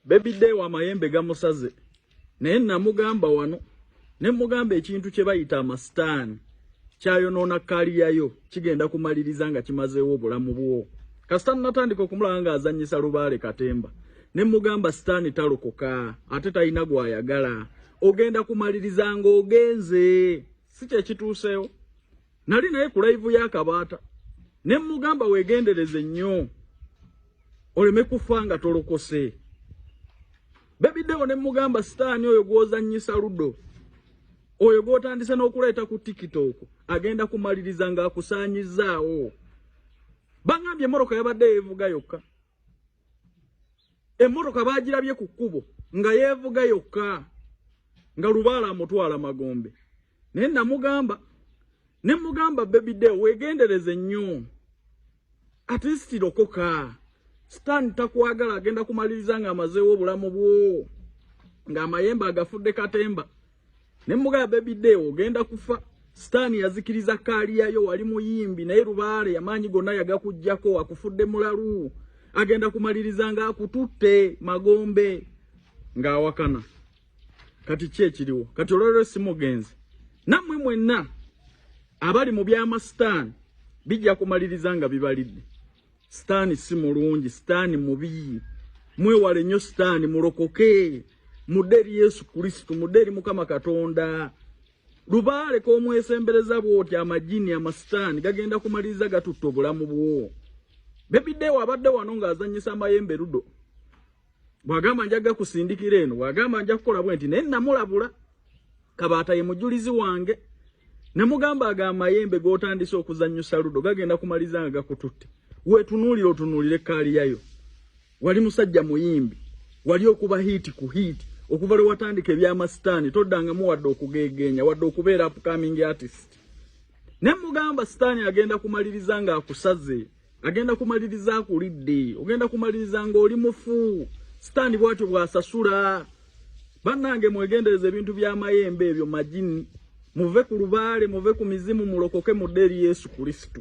Baby day wa mayembe gamusaze naye namugamba wano ne mugamba ekintu kye bayita amasitaani kyayonoona kaliyayo kigenda kumaliriza nga kimazeewo obulamu bwo kasita natandika okumulaba nga azanyisa lubaale katemba ne mugamba sitaani talokoka ate talina gwayagala ogenda kumaliriza nga ogenze si kyekituuseewo Nali naye ku live ya Kabata. Ne mugamba wegendereze nnyo. Oleme kufa nga tolokose. Baby Deo ne mugamba sitani oyo gwozannyisa ludo. Oyo gwotandise n'okuleeta ku TikTok agenda kumaliriza nga akusaanyizaawo. Bangambye moroka yabadde yevuga yokka. Emmotoka baagirabye ku kkubo nga yeevuga yokka nga lubaala amutwala magombe naye namugamba ne mugamba bebide weegendereze nnyo atisirokoka sitaani takwagala agenda kumaliriza ng'amazeewo obulamu bwo ng'amayembe agafudde katemba ne mugaya baby day ogenda kufa sitani yazikiriza kaali yayo wali muyimbi naye lubaale yamaanyi gonna yagakujjako wakufudde mulalu agenda kumaliriza nga akututte magombe ng'awakana kati ki ekiriwo kati olwalero simugenzi nammwe mwenna abali mu byamasitaani bijja kumaliriza nga bibalidde Sitaani si mulungi, sitaani mubi. Mwewale nnyo sitaani, mulokoke, mudde eri Yesu Kristo, mudde eri Mukama Katonda. Lubaale k'omwesembereza bw'oti amajini amasitaani gagenda kumaliriza gatutta obulamu bwo. Bebi Dewa abadde wano ng'azannyisa amayembe ludo. bwagamba njaga kusindikira eno bwagamba nja kukola bwenti naye namulabula kabaata ye mujulizi wange namugamba aga amayembe gotandise okuzanyusa ludo gagenda kumaliza nga gakututte wetunuulira otunuulire kaaliyayo wali musajja muyimbi wali okuba hiiti ku hiiti okuva lwe watandika ebyamasitaani toddangamu wadde okugeegeenya wadde okubeera upcoming artist ne mugamba sitaani agenda kumaliriza ng'akusaze agenda kumaliriza akulidde ogenda kumaliriza ng'oli mufu sitaani bwatyo bw'asasula bannange mwegendereza ebintu by'amayembe ebyo magini muve ku lubaale muve ku mizimu mulokoke mudde eri yesu kristo